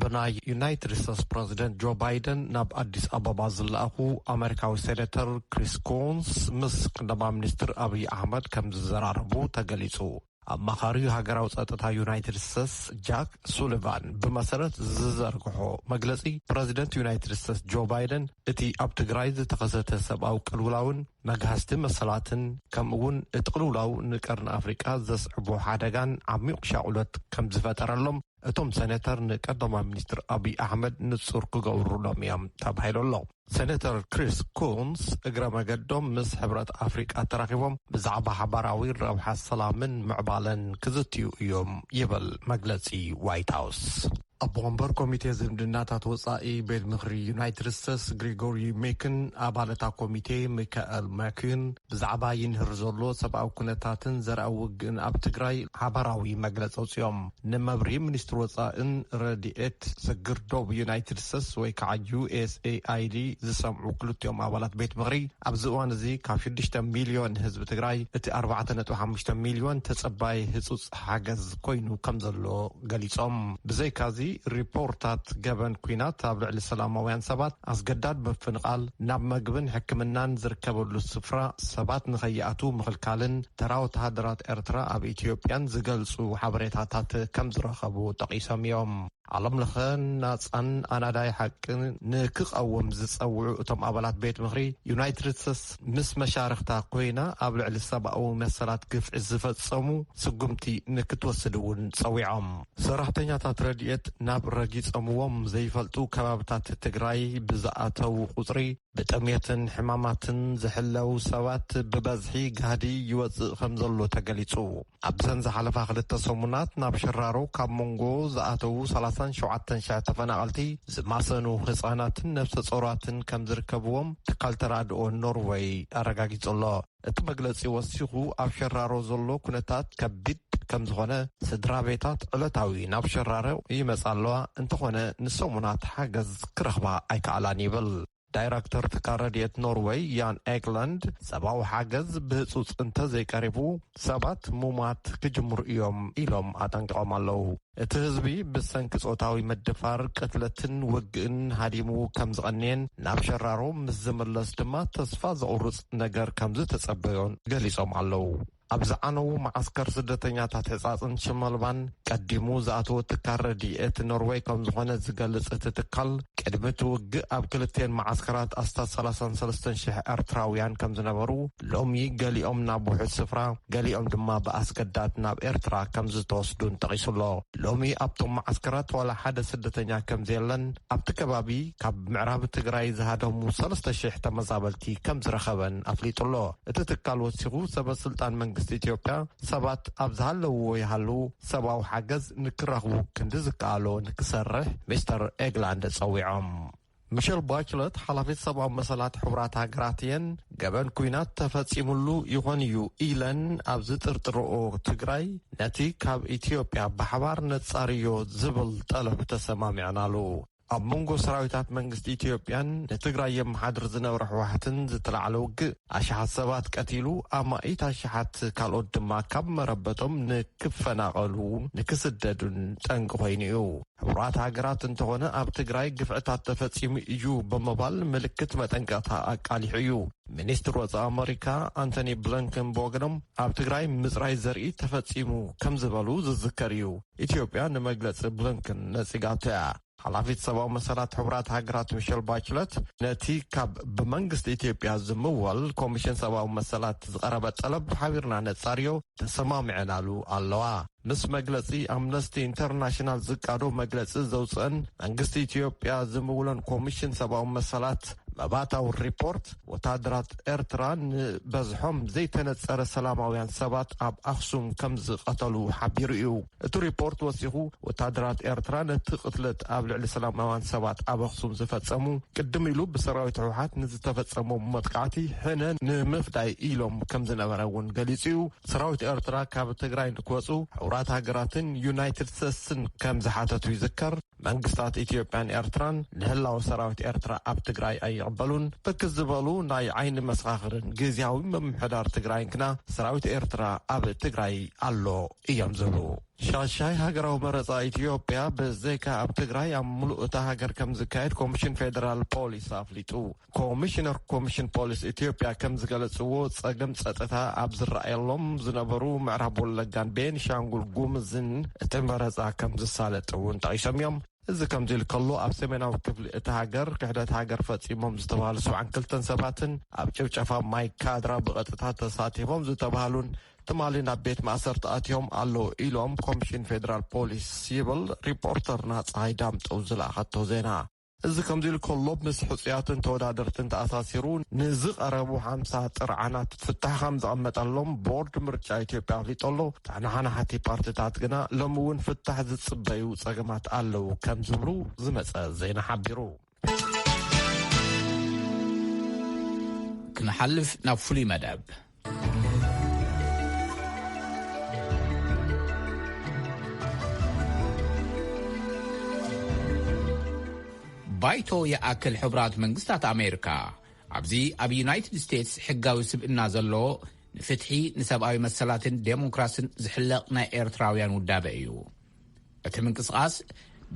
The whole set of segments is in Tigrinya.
ብናይ ዩናይትድ ስቴትስ ፕረዚደንት ጆ ባይደን ናብ ኣዲስ ኣበባ ዝለኣኹ ኣመሪካዊ ሴነተር ክሪስ ኮንስ ምስ ቀዳማ ሚኒስትር ኣብይ ኣሕመድ ከም ዝዘራረቡ ተገሊጹ። ኣማኻሪ ሃገራዊ ጸጥታ ዩናይትድ ስቴትስ ጃክ ሱሊቫን ብመሰረት ዝዘርግሖ መግለጺ ፕረዚደንት ዩናይትድ ስቴትስ ጆ ባይደን እቲ ኣብ ትግራይ ዝተኸሰተ ሰብኣዊ ቅልውላውን መግሃስቲ መሰላትን ከምኡ እውን እቲ ቅልውላው ንቀርኒ ኣፍሪቃ ዘስዕቦ ሓደጋን ዓሚቕ ሻቑሎት ከም ዝፈጠረሎም እቶም ሰነተር ንቀዳማይ ሚኒስትር ኣብይ ኣሕመድ ንፁር ክገብሩሎም እዮም ተባሂሉ ኣሎ። ሰነተር ክሪስ ኩንስ እግረ መገዶም ምስ ሕብረት ኣፍሪቃ ተራኺቦም ብዛዕባ ሓባራዊ ረብሓ ሰላምን ምዕባለን ክዝትዩ እዮም ይብል መግለፂ ዋይት ሃውስ። ኣቦ ወንበር ኮሚቴ ዝምድናታት ወፃኢ ቤት ምኽሪ ዩናይትድ ስቴትስ ግሪጎሪ ሜክን ኣባል እታ ኮሚቴ ሚካኤል ማኪን ብዛዕባ ይንህር ዘሎ ሰብኣዊ ኩነታትን ዘርኣ ውግእን ኣብ ትግራይ ሓባራዊ መግለፂ ኣውፂኦም። ንመብርሂ ሚኒስትሪ ወጻእን ረድኤት ስግር ዶብ ዩናይትድ ስተትስ ወይ ከዓ USAID ዝሰምዑ ክልቲኦም ኣባላት ቤት ምኽሪ ኣብዚ እዋን እዚ ካብ ሽዱሽተ ሚልዮን ህዝቢ ትግራይ እቲ ኣርባዕተ ነጥቢ ሓሙሽተ ሚልዮን ተፀባይ ህፁፅ ሓገዝ ኮይኑ ከምዘሎ ገሊፆም። ብዘይካ እዚ ሪፖርታት ገበን ኲናት ኣብ ልዕሊ ሰላማውያን ሰባት፣ ኣስገዳድ ምፍንቓል፣ ናብ መግብን ሕክምናን ዝርከበሉ ስፍራ ሰባት ንከይኣትው ምኽልካልን፣ ተራ ወተሃደራት ኤርትራ ኣብ ኢትዮጵያን ዝገልጹ ሓበሬታታት ከም ዝረኸቡ ጠቒሶም እዮም። ዓለም ለኸ ናጻን ኣናዳይ ሓቂ ንክቐውም ዝጸውዑ እቶም ኣባላት ቤት ምኽሪ፣ ዩናይትድ ስተትስ ምስ መሻርኽታ ኮይና ኣብ ልዕሊ ሰብኣዊ መሰላት ግፍዒ ዝፈጸሙ ስጉምቲ ንክትወስድ እውን ጸዊዖም። ሰራሕተኛታት ረድኤት ናብ ረጊጸምዎም ዘይፈልጡ ከባብታት ትግራይ ብዝኣተው ቁጽሪ ብጥምየትን ሕማማትን ዝሕለው ሰባት ብበዝሒ ጋህዲ ይወጽእ ከምዘሎ ተገሊጹ። ኣብዘን ዝሓለፋ ክልተ ሰሙናት ናብ ሽራሮ ካብ ሞንጎ ዝኣተው ሰላሳን ሸውዓተን ሽሕ ተፈናቐልቲ ዝማሰኑ ህጻናትን ነብሰ ጾራትን ከምዝርከብዎም ትካል ተራድኦ ኖርወይ ኣረጋጊጹ'ሎ። እቲ መግለፂ ወሲኹ ኣብ ሸራሮ ዘሎ ኩነታት ከቢድ ከምዝኾነ፣ ስድራ ቤታት ዕለታዊ ናብ ሸራሮ ይመፃ ኣለዋ እንተኾነ ንሰሙናት ሓገዝ ክረኽባ ኣይከኣላን ይብል። ዳይረክተር ትካል ረድኤት ኖርወይ ያን ኤግለንድ ሰብኣዊ ሓገዝ ብህፁፅ እንተዘይቀሪቡ ሰባት ምሟት ክጅምሩ እዮም ኢሎም ኣጠንቂቖም ኣለው። እቲ ህዝቢ ብሰንኪ ጾታዊ ምድፋር፣ ቅትለትን ውግእን ሃዲሙ ከም ዝቐነየን ናብ ሸራሮ ምስ ዝምለስ ድማ ተስፋ ዘቑርጽ ነገር ከም ዝተጸበዮን ገሊጾም ኣለዉ። ኣብ ዝዓነዉ መዓስከር ስደተኛታት ሕጻጽን ሽመልባን ቀዲሙ ዝኣተወ ትካል ረድኤት ኖርወይ ከም ዝኾነ ዝገልጽ እቲ ትካል፣ ቅድሚ እቲ ውግእ ኣብ ክልቲኤን መዓስከራት ኣስታት ሰላሳን ሰለስተን ሽሕ ኤርትራውያን ከም ዝነበሩ ሎሚ ገሊኦም ናብ ውሑስ ስፍራ፣ ገሊኦም ድማ ብኣስገዳድ ናብ ኤርትራ ከም ዝተወስዱን ጠቒሱ ኣሎ። ሎሚ ኣብቶም መዓስከራት ዋላ ሓደ ስደተኛ ከም ዘየለን ኣብቲ ከባቢ ካብ ምዕራብ ትግራይ ዝሃደሙ ሰለስተ ሽሕ ተመዛበልቲ ከም ዝረኸበን ኣፍሊጡ ኣሎ። እቲ ትካል ወሲኹ ሰበ ስልጣን መንግስቲ ኢትዮጵያ ሰባት ኣብ ዝሃለውዎ ይሃልዉ ሰብኣዊ ሓገዝ ንክረኽቡ ክንዲ ዝከኣሎ ንክሰርሕ ሚስተር ኤግላንድ ጸዊዖም። ሚሸል ባችለት ሓላፊት ሰብኣዊ መሰላት ሕቡራት ሃገራት እየን ገበን ኩናት ተፈፂሙሉ ይኾን እዩ ኢለን ኣብ ዝጥርጥርኦ ትግራይ ነቲ ካብ ኢትዮጵያ ብሓባር ነፃርዮ ዝብል ጠለብ ተሰማሚዕናሉ ኣብ መንጎ ሰራዊታት መንግስቲ ኢትዮጵያን ንትግራይ የመሓድር ዝነበረ ሕወሓትን ዝተላዕለ ውግእ ኣሽሓት ሰባት ቀቲሉ ኣማኢት ኣሽሓት ካልኦት ድማ ካብ መረበቶም ንክፈናቐሉ ንክስደዱን ጠንቂ ኮይኑ እዩ። ሕቡራት ሃገራት እንተኾነ ኣብ ትግራይ ግፍዕታት ተፈጺሙ እዩ ብምባል ምልክት መጠንቀቕታ ኣቃሊሑ እዩ። ሚኒስትር ወፃኢ ኣመሪካ ኣንቶኒ ብለንከን ብወገኖም ኣብ ትግራይ ምፅራይ ዘርኢ ተፈጺሙ ከም ዝበሉ ዝዝከር እዩ። ኢትዮጵያ ንመግለፂ ብለንከን ነጺጋቶ እያ። ሓላፊት ሰብኣዊ መሰላት ሕቡራት ሃገራት ሚሸል ባችለት ነቲ ካብ ብመንግስቲ ኢትዮጵያ ዝምወል ኮሚሽን ሰብኣዊ መሰላት ዝቐረበ ጠለብ ሓቢርና ነጻርዮ ተሰማሚዐናሉ ኣለዋ። ምስ መግለጺ ኣምነስቲ ኢንተርናሽናል ዝቃዶ መግለጺ ዘውጽእን መንግስቲ ኢትዮጵያ ዝምውሎን ኮሚሽን ሰብኣዊ መሰላት መባእታዊ ሪፖርት ወታደራት ኤርትራ ንበዝሖም ዘይተነጸረ ሰላማውያን ሰባት ኣብ ኣክሱም ከም ዝቐተሉ ሓቢሩ እዩ። እቲ ሪፖርት ወሲኹ ወታደራት ኤርትራ ነቲ ቅትለት ኣብ ልዕሊ ሰላማውያን ሰባት ኣብ ኣክሱም ዝፈጸሙ ቅድም ኢሉ ብሰራዊት ህውሓት ንዝተፈጸሙ መጥቃዕቲ ሕነ ንምፍዳይ ኢሎም ከም ዝነበረ እውን ገሊጹ እዩ ሰራዊት ኤርትራ ካብ ትግራይ ንክወጹ ሕቡራት ሃገራትን ዩናይትድ ስተትስን ከም ዝሓተቱ ይዝከር መንግስታት ኢትዮጵያን ኤርትራን ንህላወ ሰራዊት ኤርትራ ኣብ ትግራይ ኣይቕበሉን ብርክት ዝበሉ ናይ ዓይኒ መሰኻኽርን ግዝያዊ ምምሕዳር ትግራይን ግና ሰራዊት ኤርትራ ኣብ ትግራይ ኣሎ እዮም ዝብሉ። ሻሻይ ሃገራዊ መረፃ ኢትዮጵያ ብዘይካ ኣብ ትግራይ ኣብ ሙሉእ እታ ሃገር ከምዝካየድ ኮሚሽን ፌደራል ፖሊስ ኣፍሊጡ። ኮሚሽነር ኮሚሽን ፖሊስ ኢትዮጵያ ከም ዝገለፅዎ ፀገም ፀጥታ ኣብ ዝረኣየሎም ዝነበሩ ምዕራብ ወለጋን ቤንሻንጉል ጉምዝን እቲ መረፃ ከም ዝሳለጥ እውን ጠቒሶም እዮም እዚ ከምዚ ኢሉ ከሎ ኣብ ሰሜናዊ ክፍሊ እቲ ሃገር ክሕደት ሃገር ፈፂሞም ዝተባሃሉ ሰብዓን ክልተን ሰባትን ኣብ ጭብጨፋ ማይ ካድራ ብቐጥታ ተሳቲፎም ዝተባሃሉን ትማሊ ናብ ቤት ማእሰርቲ ኣትዮም ኣለዉ ኢሎም ኮሚሽን ፌዴራል ፖሊስ ይብል ሪፖርተርና ፀሃይ ዳምጠው ዝለኣኸቶ ዜና እዚ ከምዚ ኢሉ ከሎ ምስ ሕፁያትን ተወዳደርትን ተኣሳሲሩ ንዝቐረቡ ሓምሳ ጥርዓናት ፍታሕ ከም ዘቐመጠሎም ቦርድ ምርጫ ኢትዮጵያ ኣፍሊጡ ኣሎ። ተናሓናሕቲ ፓርቲታት ግና ሎሚ እውን ፍታሕ ዝፅበዩ ፀገማት ኣለዉ ከም ዝብሉ ዝመፀ ዜና ሓቢሩ። ክንሓልፍ ናብ ፍሉይ መደብ። ባይቶ ይኣክል ሕቡራት መንግስታት ኣሜሪካ ኣብዚ ኣብ ዩናይትድ ስቴትስ ሕጋዊ ስብእና ዘለዎ ንፍትሒ ንሰብኣዊ መሰላትን ዴሞክራስን ዝሕለቕ ናይ ኤርትራውያን ውዳበ እዩ እቲ ምንቅስቓስ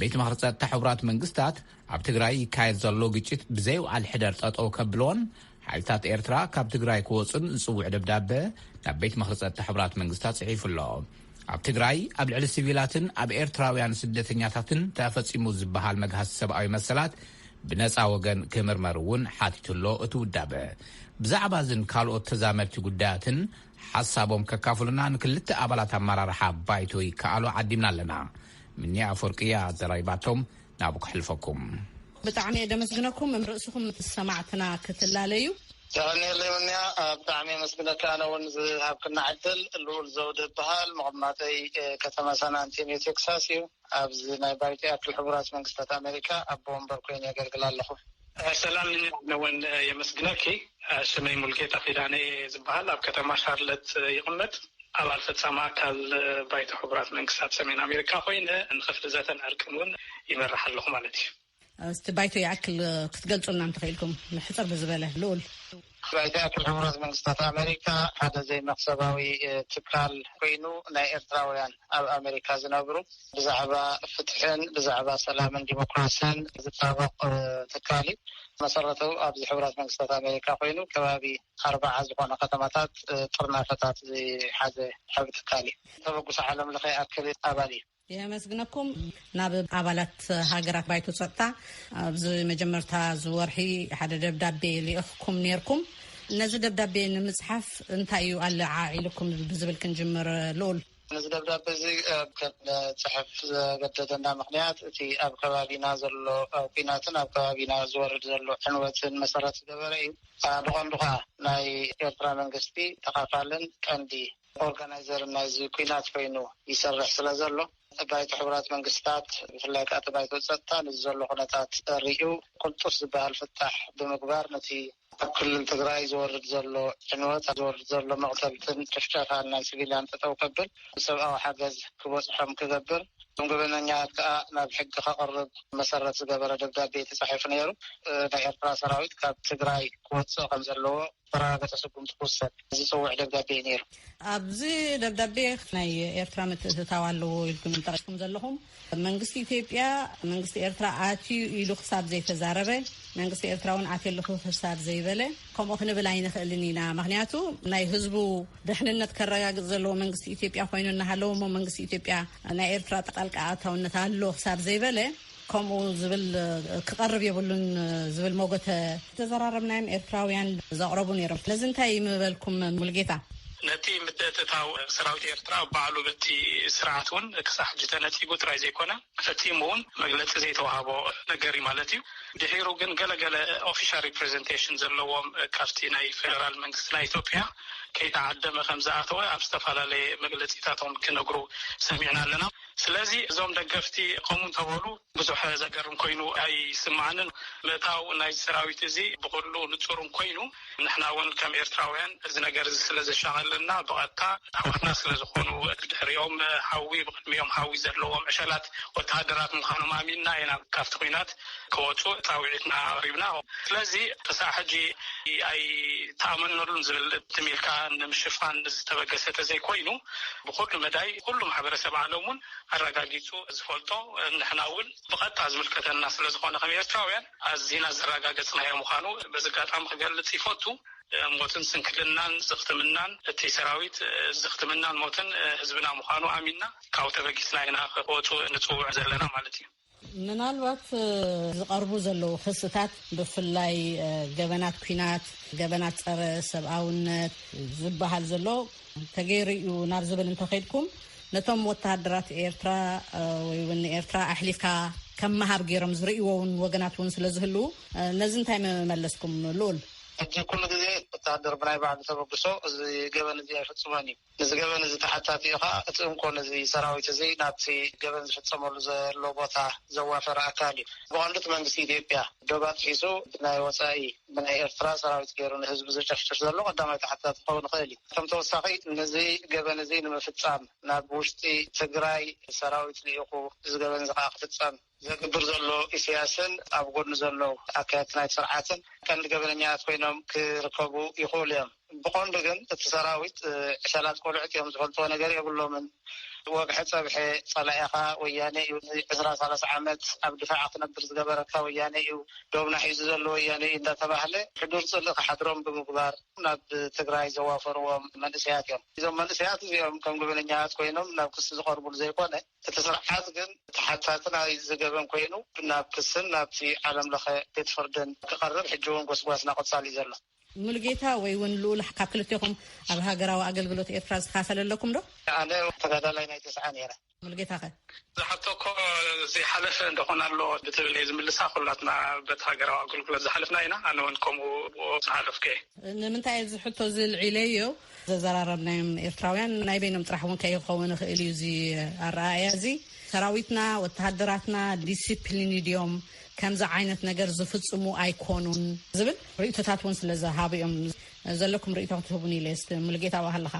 ቤት ምኽሪ ጸጥታ ሕቡራት መንግስታት ኣብ ትግራይ ይካየድ ዘሎ ግጭት ብዘይውዓል ሕደር ጠጠው ከብሎን ሓይልታት ኤርትራ ካብ ትግራይ ክወፁን ዝፅውዕ ደብዳበ ናብ ቤት ምኽሪ ጸጥታ ሕቡራት መንግስታት ጽሒፉ ኣሎ። ኣብ ትግራይ ኣብ ልዕሊ ሲቪላትን ኣብ ኤርትራውያን ስደተኛታትን ተፈጺሙ ዝበሃል መግሃስ ሰብኣዊ መሰላት ብነፃ ወገን ክምርመር እውን ሓቲቱ ኣሎ እቲ ውዳበ። ብዛዕባ እዝን ካልኦት ተዛመድቲ ጉዳያትን ሓሳቦም ከካፍሉና ንክልተ ኣባላት ኣመራርሓ ባይቶ ይከኣሎ ዓዲምና ኣለና። ምኒያ ኣፈወርቂ እያ ኣዘራሪባቶም፣ ናብኡ ከሕልፈኩም። ብጣዕሚ እየ ደመስግነኩም እም ርእስኹም ምስ ሰማዕትና ክትላለዩ። የቐንየለይ ምኒያ ብጣዕሚ የመስግነካ ኣነ እውን ዝሃብክና ዕድል። ልኡል ዘውዲ እበሃል መቐማጠይ ከተማ ሳን ኣንቴንዮ ቴክሳስ እዩ። ኣብዚ ናይ ባይቶ ያክል ሕቡራት መንግስታት ኣመሪካ ኣቦ ወንበር ኮይነ የገልግል ኣለኹ። ሰላም ኣነ ውን የመስግነኪ ስመይ ሙልጌታ ኪዳነ እየ ዝብሃል ኣብ ከተማ ሻርለት ይቅመጥ ኣባል ፈጻሚ ኣካል ባይቶ ሕቡራት መንግስታት ሰሜን ኣሜሪካ ኮይነ ንክፍሊ ዘተን ዕርቅን ውን ይመርሕ ኣለኹ ማለት እዩ። እስቲ ባይቶ ይኣክል ክትገልፁልና እንተኽኢልኩም ሕፅር ብዝበለ ልኡል። ባይቶ ይኣክል ሕቡራት መንግስታት ኣመሪካ ሓደ ዘይመኽሰባዊ ትካል ኮይኑ ናይ ኤርትራውያን ኣብ ኣመሪካ ዝነብሩ ብዛዕባ ፍትሕን ብዛዕባ ሰላምን ዲሞክራስን ዝጣበቕ ትካል እዩ። መሰረቱ ኣብዚ ሕቡራት መንግስታት ኣሜሪካ ኮይኑ ከባቢ ኣርባዓ ዝኾነ ከተማታት ጥርናፈታት ዝሓዘ ዓብ ትካል እዩ ተበግሶ ዓለም ለኸ ኣክል ኣባል እዩ የመስግነኩም ናብ ኣባላት ሃገራት ባይቶ ጸጥታ ኣብዚ መጀመርታ ዝወርሒ ሓደ ደብዳቤ ልኢኽኩም ነርኩም ነዚ ደብዳቤ ንምጽሓፍ እንታይ እዩ ኣለዓዒልኩም ብዝብል ክንጅምር ልኡል እዚ ደብዳቤ እዚ ክንፅሕፍ ዘገደደና ምክንያት እቲ ኣብ ከባቢና ዘሎ ኩናትን ኣብ ከባቢና ዝወርድ ዘሎ ዕንወትን መሰረት ዝገበረ እዩ ብቀንዱ ከዓ ናይ ኤርትራ መንግስቲ ተካፋልን ቀንዲ ኦርጋናይዘር ናይዚ ኲናት ኮይኑ ይሰርሕ ስለ ዘሎ፣ ባይቶ ሕቡራት መንግስትታት ብፍላይ ከኣ እቲ ባይቶ ጸጥታ ነዚ ዘሎ ኩነታት ርእዩ ቅልጡፍ ዝበሃል ፍታሕ ብምግባር ነቲ ኣብ ክልል ትግራይ ዝወርድ ዘሎ ዕንወት፣ ዝወርድ ዘሎ መቕተልትን ጭፍጨፋን ናይ ስቪልያን ጠጠው ከብል፣ ሰብኣዊ ሓገዝ ክበጽሖም ክገብር፣ እቶም ገበነኛታት ከኣ ናብ ሕጊ ከቕርብ መሰረት ዝገበረ ደብዳቤ ተጻሒፉ ነይሩ። ናይ ኤርትራ ሰራዊት ካብ ትግራይ ክወጽእ ከም ዘለዎ ዝተረጋገጸ ስጉምቲ ክውሰድ ዝጽውዕ ደብዳቤ እዩ ነይሩ። ኣብዚ ደብዳቤ ናይ ኤርትራ ምትእትታው ኣለዎ ኢልኩም ጠቂስኩም ዘለኹም መንግስቲ ኢትዮጵያ መንግስቲ ኤርትራ ኣትዩ ኢሉ ክሳብ ዘይተዛረበ መንግስቲ ኤርትራ እውን ኣትየ ኣለኹ ክሳብ ዘይበለ ከምኡ ክንብል ኣይንኽእልን ኢና ምክንያቱ ናይ ህዝቡ ድሕንነት ከረጋግፅ ዘለዎ መንግስቲ ኢትዮጵያ ኮይኑ እናሃለዎ እሞ መንግስቲ ኢትዮጵያ ናይ ኤርትራ ጣልቃ ኣእታውነት ኣሎ ክሳብ ዘይበለ ከምኡ ዝብል ክቐርብ የብሉን ዝብል ሞጎተ ተዘራረብናዮም ኤርትራውያን ዘቕረቡ ነይሮም ነዚ እንታይ ምበልኩም ሙልጌታ? ነቲ ምትእትታው ሰራዊት ኤርትራ ባዕሉ በቲ ስርዓት እውን ክሳዕ ሕጂ ተነጺጉ ጥራይ ዘይኮነ ፈጺሙ እውን መግለጺ ዘይተዋህቦ ነገር እዩ ማለት እዩ። ድሒሩ ግን ገለ ገለ ኦፊሻል ሪፕረዘንቴሽን ዘለዎም ካብቲ ናይ ፌደራል መንግስቲ ናይ ኢትዮጵያ ከይተዓደመ ከምዝኣተወ ኣብ ዝተፈላለየ መግለጺታቶም ክነግሩ ሰሚዕና ኣለና። ስለዚ እዞም ደገፍቲ ከምኡ እንተበሉ ብዙሕ ዘገርም ኮይኑ ኣይስምዓንን። ምእታው ናይዚ ሰራዊት እዚ ብኹሉ ንጹርን ኮይኑ ንሕና እውን ከም ኤርትራውያን እዚ ነገር እዚ ስለ ዘሻቐለና ብቐጥታ ኣሕዋትና ስለ ዝኾኑ ብድሕሪኦም ሓዊ ብቕድሚኦም ሓዊ ዘለዎም ዕሸላት ወተሃደራት ምዃኖም ኣሚንና ኢና ካብቲ ኵናት ክወጹ ጻውዒትና ኣቕሪብና። ስለዚ ክሳዕ ሕጂ ኣይተኣመነሉን ዝብል ትም ኢልካ ንምሽፋን ዝተበገሰ ተዘይኮይኑ ብኹሉ መዳይ ኩሉ ማሕበረሰብ ዓለም ውን ኣረጋጊጹ ዝፈልጦ ንሕና ውን ብቐጥታ ዝምልከተና ስለዝኾነ ከም ኤርትራውያን ኣዚና ዘረጋገጽናዮ ምዃኑ በዚ ኣጋጣሚ ክገልጽ ይፈቱ። ሞትን ስንክልናን ዝኽትምናን እቲ ሰራዊት ዝኽትምናን ሞትን ህዝብና ምዃኑ ኣሚንና ካብኡ ተበጊስና ኢና ክወጹ ንጽውዕ ዘለና ማለት እዩ። ምናልባት ዝቐርቡ ዘለዉ ክስታት ብፍላይ ገበናት ኩናት፣ ገበናት ፀረ ሰብኣውነት ዝበሃል ዘሎ ተገይሩ እዩ ናብ ዝብል እንተኸድኩም ነቶም ወተሃደራት ኤርትራ ወይ እውን ንኤርትራ ኣሕሊፍካ ከም መሃብ ገይሮም ዝርእይዎ እውን ወገናት እውን ስለ ዝህልዉ ነዚ እንታይ መመለስኩም ልኡል? ሕጂ ኩሉ ግዜ ወተሃደር ብናይ ባዕሉ ተበግሶ እዚ ገበን እዚ ኣይፍፅሞን እዩ። ንዚ ገበን እዚ ተሓታቲ እዩ ከኣ እቲ እንኮ ነዚ ሰራዊት እዚ ናብቲ ገበን ዝፍጸመሉ ዘሎ ቦታ ዘዋፈረ ኣካል እዩ። ብቐንዱ እቲ መንግስቲ ኢትዮጵያ ዶብ ኣጥሒሱ ብናይ ወጻኢ ብናይ ኤርትራ ሰራዊት ገይሩ ንህዝቢ ዘጨፍጭፍ ዘሎ ቀዳማይ ተሓታቲ ክኸውን ይኽእል እዩ። ከም ተወሳኺ ነዚ ገበን እዚ ንምፍጻም ናብ ውሽጢ ትግራይ ሰራዊት ልኢኹ እዚ ገበን እዚ ከኣ ክፍጸም ዘግብር ዘሎ ኢሰያስን ኣብ ጎድኑ ዘሎ ኣካየድቲ ናይቲ ስርዓትን ቀንዲ ገበነኛታት ኮይኖም ክርከቡ ይኽእሉ እዮም። ብቐንዱ ግን እቲ ሰራዊት ዕሸላት ቆልዑት እዮም ዝፈልጥዎ ነገር የብሎምን። ወግሐ ጸብሐ ጸላኢኻ ወያኔ እዩ። ንዕስራ ሳላሳ ዓመት ኣብ ድፋዕ ክትነብር ዝገበረካ ወያኔ እዩ። ዶብና ሒዙ ዘሎ ወያኔ እዩ እንዳተባህለ ሕዱር ጽልኢ ክሓድሮም ብምግባር ናብ ትግራይ ዘዋፈርዎም መንእሰያት እዮም። እዞም መንእሰያት እዚኦም ከም ገበነኛታት ኮይኖም ናብ ክሲ ዝቐርቡሉ ዘይኮነ፣ እቲ ስርዓት ግን ተሓታቲ ናይዚ ገበን ኮይኑ ናብ ክስን ናብቲ ዓለም ለኸ ቤት ፍርድን ክቐርብ ሕጂ እውን ጎስጓስና ቀጻሊ እዩ ዘሎ። ሙሉጌታ ወይ እውን ልኡል ካብ ክልቴኹም ኣብ ሃገራዊ ኣገልግሎት ኤርትራ ዝካፈለ ኣለኩም ዶ? ኣነ ተጋዳላይ ናይ ተስዓ ነይረ። ሙሉጌታ ከ? እዛ ሕቶ እኮ ዘይሓለፈ ዶኾን ኣሎ ብትብል እየ ዝምልሳ። ኩላትና በቲ ሃገራዊ ኣገልግሎት ዝሓለፍና ኢና። ኣነ እውን ከምኡ ብኡ ዝሓለፍኩ እየ። ንምንታይ እዚ ሕቶ እዚ ኣልዒለዮ ዘዘራረብናዮም ኤርትራውያን ናይ በይኖም ጥራሕ እውን ከይኸውን ይኽእል እዩ እዚ ኣረኣእያ እዚ ሰራዊትና ወተሃደራትና ዲሲፕሊን ድዮም ከምዚ ዓይነት ነገር ዝፍፅሙ ኣይኮኑን ዝብል ርእቶታት እውን ስለ ዝሃቡ እዮም ዘለኩም ርእቶ ክትህቡን ኢለ ስ ሙሉጌታ ዋ ኣለኻ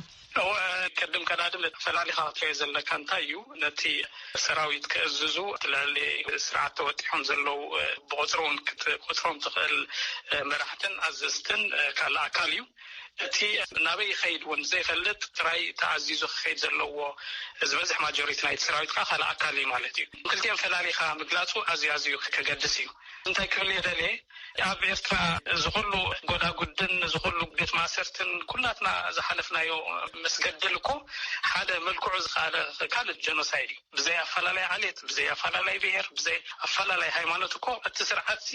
ቅድም ቀዳድም ፈላሊኻ ክትሪኦ ዘለካ እንታይ እዩ ነቲ ሰራዊት ክእዝዙ ትልዕሊ ስርዓት ተወጢሖም ዘለዉ ብቁፅሪ እውን ክትቁፅሮም ትኽእል መራሕትን ኣዘዝትን ካልእ ኣካል እዩ እቲ ናበይ ይኸይድ ውን ዘይፈልጥ ጥራይ ተኣዚዙ ክኸይድ ዘለዎ ዝበዝሕ ማጆሪቲ ናይቲ ሰራዊት ከኣ ካልእ ኣካል እዩ ማለት እዩ። ክልቲኦም ፈላሊኻ ምግላጹ ኣዝዩ ኣዝዩ ከገድስ እዩ። እንታይ ክብል እየ ደልየ ኣብ ኤርትራ እዚ ኩሉ ጎዳጉድን እዚ ኩሉ ቤት ማእሰርትን ኩላትና ዝሓለፍናዮ ምስ ገድል እኮ ሓደ መልክዑ ዝኸኣለ ካልእ ጀኖሳይድ እዩ። ብዘይ ኣፈላላይ ዓሌት፣ ብዘይ ኣፈላላይ ብሄር፣ ብዘይ ኣፈላላይ ሃይማኖት እኮ እቲ ስርዓት'ዚ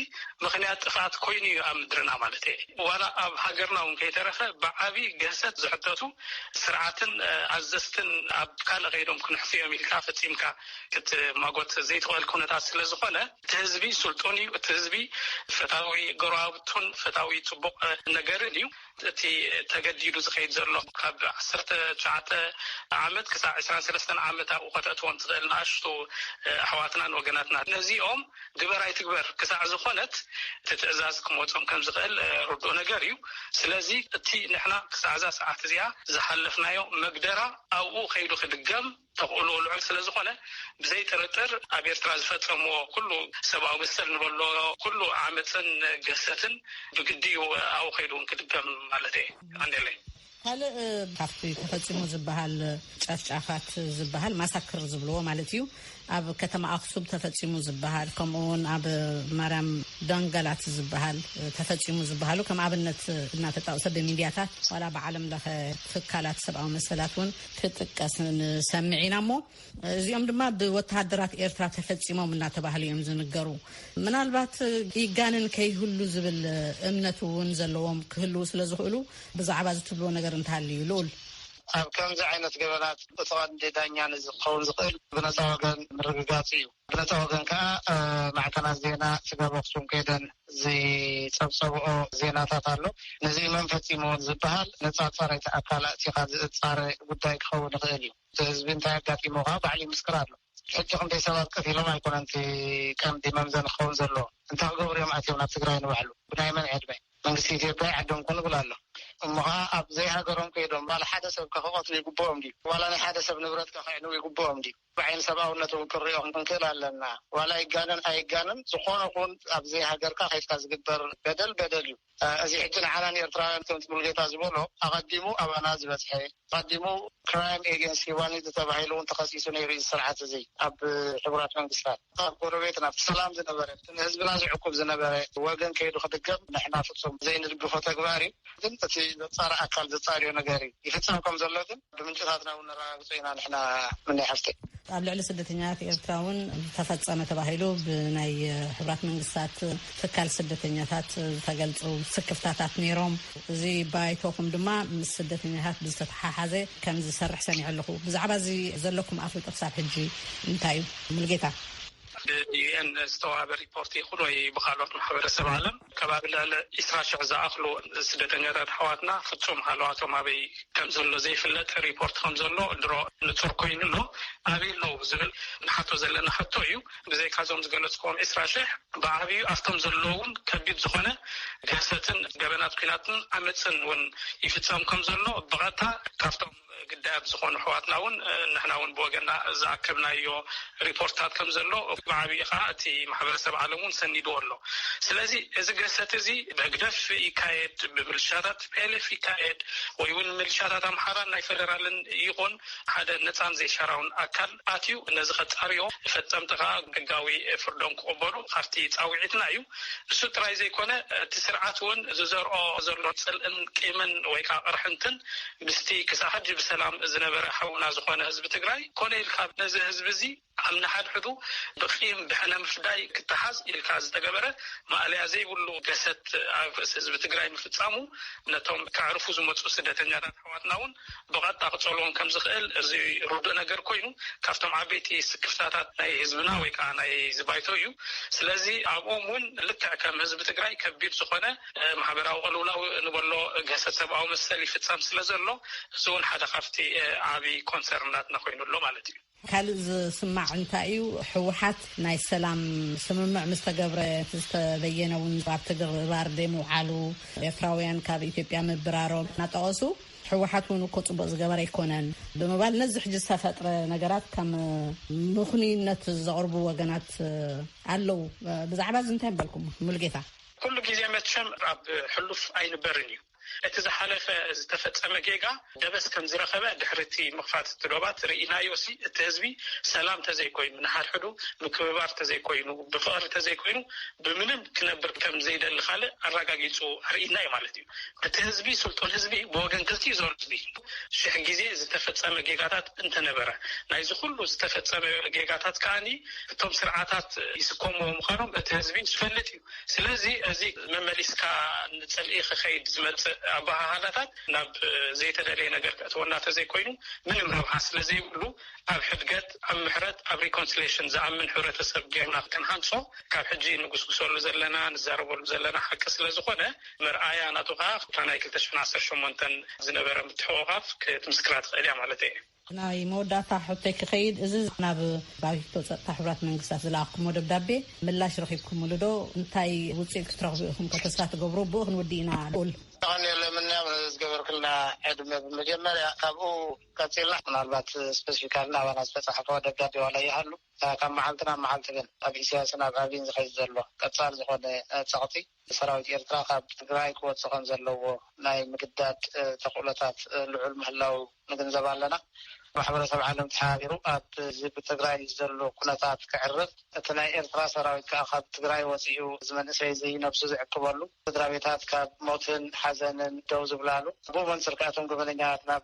ምኽንያት ጥፍኣት ኮይኑ እዩ ኣብ ምድርና ማለተይ'የ። ዋላ ኣብ ሃገርና እውን ከይተረፈ ብዓቢ ግህሰት ዝሕተቱ ስርዓትን ኣዘዝትን ኣብ ካልእ ከይዶም ክንሕፉ እዮም ኢልካ ፈጺምካ ክትማጎት ዘይትኽእል ኩነታት ስለ ዝኾነ፣ እቲ ህዝቢ ስልጡን እዩ፣ እቲ ህዝቢ ፈታዊ ጎረባብቱን ፈታዊ ጽቡቕ ነገርን እዩ። እቲ ተገዲዱ ዝኸይድ ዘሎ ካብ ዓሰርተ ትሽዓተ ዓመት ክሳዕ ዕስራን ሰለስተን ዓመት ኣብኡ ከተእትዎም ትኽእል ንኣሽቱ ኣሕዋትናን ወገናትናን ነዚኦም ግበር ኣይትግበር ክሳዕ ዝኾነት እቲ ትእዛዝ ክመጾም ከም ዝኽእል ርዱእ ነገር እዩ። ስለዚ እቲ ንሕና ክሳዕ እዛ ሰዓት እዚኣ ዝሓለፍናዮ መግደራ ኣብኡ ከይዱ ክድገም፣ ተኽእሎኡ ልዑል ስለ ዝኾነ ብዘይ ጥርጥር ኣብ ኤርትራ ዝፈጸምዎ ኩሉ ሰብኣዊ መሰል ንበሎ ኩሉ ዓመጽን ግህሰትን ብግዲ እዩ ኣብኡ ከይዱ እውን ክድገም ማለት እየ። የቐንየለይ። ካልእ ካብቲ ተፈጺሙ ዝበሃል ጨፍጫፋት ዝበሃል ማሳክር ዝብልዎ ማለት እዩ ኣብ ከተማ ኣክሱም ተፈጺሙ ዝበሃል ከምኡ እውን ኣብ ማርያም ደንገላት ዝበሃል ተፈጺሙ ዝበሃሉ ከም ኣብነት እናተጣቕሰ ብሚድያታት ዋላ ብዓለም ለኸ ትካላት ሰብኣዊ መሰላት እውን ክጥቀስ ንሰምዕ ኢና እሞ እዚኦም ድማ ብወተሃደራት ኤርትራ ተፈጺሞም እናተባህሉ እዮም ዝንገሩ። ምናልባት ይጋንን ከይህሉ ዝብል እምነት እውን ዘለዎም ክህልው ስለ ዝኽእሉ ብዛዕባ ዝትብልዎ ነገር እንተሃልዩ እዩ ልኡል ኣብ ከምዚ ዓይነት ገበናት እቲ ቀንዲ ዳኛ ንዝኸውን ዝኽእል ብነፃ ወገን ምርግጋፅ እዩ። ብልተ ወገን ከኣ ማዕከናት ዜና ስጋብ ኣክሱም ከይደን ዝጸብጸብኦ ዜናታት ኣሎ። ነዚ መን ፈጺምዎ ንዝበሃል ነጻጸረቲ ኣካል ኣእቲኻ ዝእጻረ ጉዳይ ክኸውን ይኽእል እዩ። እቲ ህዝቢ እንታይ ኣጋጢምዎ ከኣ ባዕሉ ይምስክር ኣሎ። ሕጂ ክንደይ ሰባት ቀቲሎም ኣይኮነን እቲ ቀንዲ መምዘኒ ክኸውን ዘለዎ። እንታይ ክገብሩ እዮም ኣትዮም ናብ ትግራይ ንባዕሉ ብናይ መን ዕድመ? መንግስቲ ኢትዮጵያ ይዓድምኩም ይብል ኣሎ። እሞ ከኣ ኣብ ዘይሃገሮም ከይዶም ዋላ ሓደ ሰብከ ክቐትሉ ይግብኦም ድዩ? ዋላ ናይ ሓደ ሰብ ንብረትከ ከዕንዉ ይግብኦም ድዩ? ብዓይኒ ሰብኣውነት እውን ክንሪኦም ክንክእል ኣለና። ዋላ ይጋነን ኣይጋነን ዝኾነ ኹን ኣብዚ ሃገርካ ከይድካ ዝግበር በደል በደል እዩ። እዚ ሕጂ ንዓና ንኤርትራውያን ከምቲ ሙሉጌታ ዝበሎ ኣቐዲሙ ኣባና ዝበጽሐ ኣቐዲሙ ክራይም ኤገንስት ሂዋኒቲ ተባሂሉ እውን ተኸሲሱ ነይሩ እዩ እዚ ስርዓት እዚ ኣብ ሕቡራት መንግስታት። ካብ ጎረቤት ናብቲ ሰላም ዝነበረ እቲ ንህዝብና ዝዕቁብ ዝነበረ ወገን ከይዱ ክድገም ንሕና ፍፁም ዘይንድግፎ ተግባር እዩ። ግን እቲ ዘፃሪ ኣካል ዘፃርዮ ነገር እዩ። ይፍፀም ከም ዘሎ ግን ብምንጭታትና እውን ነረጋግፆ ኢና ንሕና ምነይ ሓፍተይ። ኣብ ልዕሊ ስደተኛታት ኤርትራ እውን ተፈፀመ ተባሂሉ ብናይ ሕብራት መንግስታት ትካል ስደተኛታት ዝተገልፁ ስክፍታታት ነይሮም። እዚ ባይቶኹም ድማ ምስ ስደተኛታት ብዝተተሓሓዘ ከም ዝሰርሕ ሰሚዐ ኣለኹ። ብዛዕባ እዚ ዘለኩም ኣፍልጦ ክሳብ ሕጂ እንታይ እዩ? ሙልጌታ። ብዩኤን ዝተዋህበ ሪፖርት ይኹን ወይ ብኻልኦት ማሕበረሰብ ዓለም ከባቢ ልዕሊ ዕስራ ሽሕ ዝኣኽሉ ስደተኛታት ኣሕዋትና ፍፁም ሃለዋቶም ኣበይ ከምዘሎ ዘይፍለጥ ሪፖርት ከምዘሎ ድሮ ንፁር ኮይኑ ኣሎ። ኣበይ ኣለዉ ብዝብል ንሓቶ ዘለና ሕቶ እዩ። ብዘይካ እዞም ዝገለፅክዎም ዕስራ ሽሕ ብዓብዩ ኣፍቶም ዘለዉ እውን ከቢድ ዝኾነ ግህሰትን ገበናት ኲናትን ዓመፅን እውን ይፍፀም ከምዘሎ ብቐጥታ ካብቶም ግዳያት ዝኾኑ ኣሕዋትና እውን ንሕና እውን ብወገና ዝኣከብናዮ ሪፖርትታት ከም ዘሎ ብዓብይ ኸዓ እቲ ማሕበረሰብ ዓለም እውን ሰኒድዎ ኣሎ ስለዚ እዚ ገሰት እዚ ብህግደፍ ይካየድ ብምልሻታት ቲፒኤልኤፍ ይካየድ ወይ እውን ምልሻታት ኣምሓራን ናይ ፌደራልን ይኹን ሓደ ነፃን ዘይሻራውን ኣካል ኣትዩ ነዚ ከጻርዮ ፈጸምቲ ከኣ ሕጋዊ ፍርዶም ክቕበሉ ካብቲ ጻውዒትና እዩ። እሱ ጥራይ ዘይኮነ እቲ ስርዓት እውን ዝዘርኦ ዘሎ ጽልእን ቂምን ወይ ከኣ ቅርሕንትን ምስቲ ክሳዕ ሕጂ ብሰላም ዝነበረ ሓውና ዝኾነ ህዝቢ ትግራይ ኮነ ኢልካ ነዚ ህዝቢ እዚ ኣብ ንሓድሕዱ ብቂም ብሕነ ምፍዳይ ክተሓዝ ኢልካ ዝተገበረ ማእለያ ዘይብሉ ገሰት ኣብ ርእሲ ህዝቢ ትግራይ ምፍጻሙ ነቶም ከዕርፉ ዝመጹ ስደተኛታት ኣሕዋትና እውን ብቐጥታ ክጸልዎም ከም ዝኽእል እዚ ርዱእ ነገር ኮይኑ ካብቶም ዓበይቲ ስክፍታታት ናይ ህዝብና ወይ ከኣ ናይ እዚ ባይቶ እዩ። ስለዚ ኣብኡም እውን ልክዕ ከም ህዝቢ ትግራይ ከቢድ ዝኾነ ማሕበራዊ ቅልውላው ንበሎ ግህሰት ሰብኣዊ መሰል ይፍጸም ስለ ዘሎ እዚ እውን ሓደ ካብቲ ዓቢ ኮንሰርን ናትና ኮይኑ ኣሎ ማለት እዩ። ካልእ ዝስማዕ እንታይ እዩ ህወሓት ናይ ሰላም ስምምዕ ምስ ተገብረ ዝተበየነ እውን ኣብ ትግባር ዘይምውዓሉ ኤርትራውያን ካብ ኢትዮጵያ ምብራሮም እናጠቐሱ ህወሓት እውን እኮ ፅቡቕ ዝገበረ ኣይኮነን ብምባል ነዚ ሕጂ ዝተፈጥረ ነገራት ከም ምኽኑይነት ዘቕርቡ ወገናት ኣለዉ። ብዛዕባ እዚ እንታይ በልኩም ሙሉጌታ? ኩሉ ግዜ መቸም ኣብ ሕሉፍ ኣይንበርን እዩ። እቲ ዝሓለፈ ዝተፈጸመ ጌጋ ደበስ ከም ዝረኸበ ድሕሪ እቲ ምኽፋት እቲ ዶባት ርኢናዮ'ሲ እቲ ህዝቢ ሰላም ተዘይኮይኑ ንሓድሕዱ ምክብባር ተዘይኮይኑ ብፍቕሪ ተዘይኮይኑ ብምንም ክነብር ከም ዘይደሊ ካልእ ኣራጋጊጹ ኣርኢና'ዩ ማለት'ዩ እቲ ህዝቢ ስልጡን ህዝቢ ብወገን ክልቲኡ ዞን ህዝቢ ሽሕ ግዜ ዝተፈጸመ ጌጋታት እንተነበረ ናይዚ ኩሉ ዝተፈጸመ ጌጋታት ከኣ እቶም ስርዓታት ይስከምዎ ምዃኖም እቲ ህዝቢ ዝፈልጥ ስለዚ እዚ መመሊስካ ንጽልኢ ክኸይድ ዝመጽእ ኣበሃህላታት ናብ ዘይተደለየ ነገር ከእትወና ተዘይኮይኑ ምንም ረብሓ ስለዘይብሉ ኣብ ሕድገት፣ ኣብ ምሕረት፣ ኣብ ሪኮንስሌሽን ዝኣምን ሕብረተሰብ ጌርና ክንሃንጾ ካብ ሕጂ ንጉስጉሰሉ ዘለና ንዛረበሉ ዘለና ሓቂ ስለዝኾነ መርኣያ ናቱ ከኣ እታ ናይ ክልተ ሽሕን ዓሰርተ ሸሞንተን ዝነበረ ምትሕቑቓፍ ክትምስክራ ትኽእል እያ ማለተይ እየ። ናይ መወዳእታ ሕቶይ ክኸይድ፣ እዚ ናብ ባይቶ ጸጥታ ሕቡራት መንግስታት ዝለኣኽኩሞ ደብዳቤ ምላሽ ረኺብኩምሉ ዶ? እንታይ ውጽኢት ክትረኽቡ ኢኹም ከ ተስፋ ትገብሩ? ብኡ ክንውድእ ኢና ሉኡል። የቀንየለይ ምንያም ንዝገበርክልና ዕድመ ብመጀመርያ ካብኡ ቀጺልና ምናልባት ስፐሲፊካሊ ናባና ዝተጻሕፈ ደብዳቤ ዋላ ይሃሉ ካብ መዓልቲ ናብ መዓልቲ ግን ኣብ ኢሰያስን ኣብ ኣቢን ዝኸይድ ዘሎ ቀጻሊ ዝኾነ ጸቕጢ ሰራዊት ኤርትራ ካብ ትግራይ ክወጽእ ከም ዘለዎ ናይ ምግዳድ ተኽእሎታት ልዑል ምህላዉ ንግንዘብ ኣለና። ማሕበረሰብ ዓለም ተሓባቢሩ ኣብዚ ብትግራይ ዘሎ ኩነታት ከዕርፍ፣ እቲ ናይ ኤርትራ ሰራዊት ከኣ ካብ ትግራይ ወጺኡ እዚ መንእሰይ'ዚ ነብሱ ዝዕቅበሉ፣ ስድራቤታት ካብ ሞትን ሓዘንን ደው ዝብላሉ፣ ብኡ መንጽር ከኣ እቶም ገበነኛታት ናብ።